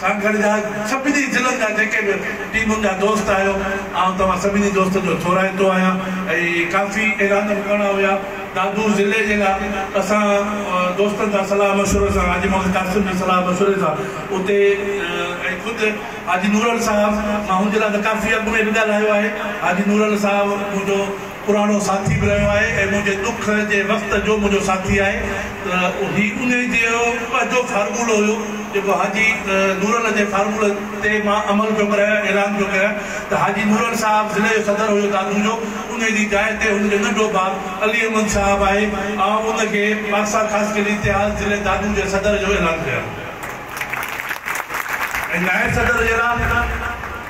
سان گڏ جا سڀني ضلعن جا جيڪي به ٽيمن جا دوست آهيو آئون توهان سڀني دوستن جو ٿورائتو آهيان ۽ ڪافي اعلان به ڪرڻا هيا دادو ضلعي جي لا اسان دوستن سان صلاح مشورو سان حاجي محمد قاسم جي صلاح مشوري سان اتي ۽ خود حاجي نورل صاحب مان هن جي لا ته ڪافي اڳ ۾ به ڳالهايو آهي حاجي نورل صاحب منهنجو پراڻو ساٿي به رهيو آهي ۽ منهنجي ڏک جي وقت جو منهنجو ساٿي آهي ته هي انهي جهڙو پنهنجو فارمولو هيو جيڪو حاجي نورل جي فارمولي تي مان عمل پيو ڪريان ۽ اعلان پيو ڪريان ته حاجي نورل صاحب ضلعي جو صدر هيو دادو جو انهي جي جاء تي هن جو ننڍو ڀاء علي احمد صاحب آهي آئون ان کي پاڪستان خاص کي لي تياز ضلعي دادو جي صدر جو اعلان ڪريان ٿو ۽ نائب صدر جي لاء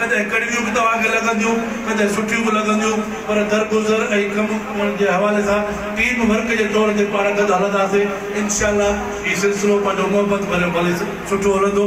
ڪڏهن ڪڙويون به توهان کي لڳنديون، ڪڏهن سٺيون به لڳنديون، پر درگذر ۽ ڪم ڪرڻ جي حوالي سان ٽيم ورڪ جي طور تي پاڻ گڏ هلنداسين، انشاء الله هي سلسلو پنهنجو محبت ڀريو ڀلي سٺو هلندو.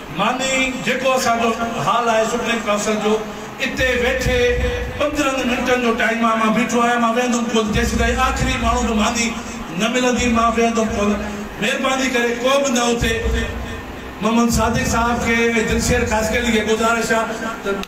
معني جيڪو اسان جو حال آهي سپريم ڪائونسل جو اتي ويٺي پندرهن منٽن جو ٽائيم آهي مان بيٺو آهيان مان ويهندم ڪونه جيسيتائين آخري ماڻهو به ماني نه ملندي مان ويهندم ڪونه مهرباني ڪري ڪو به نه اٿي محمد صادق صاحب کي ۽ دلشير خاصخيلي کي گذارش آهي ته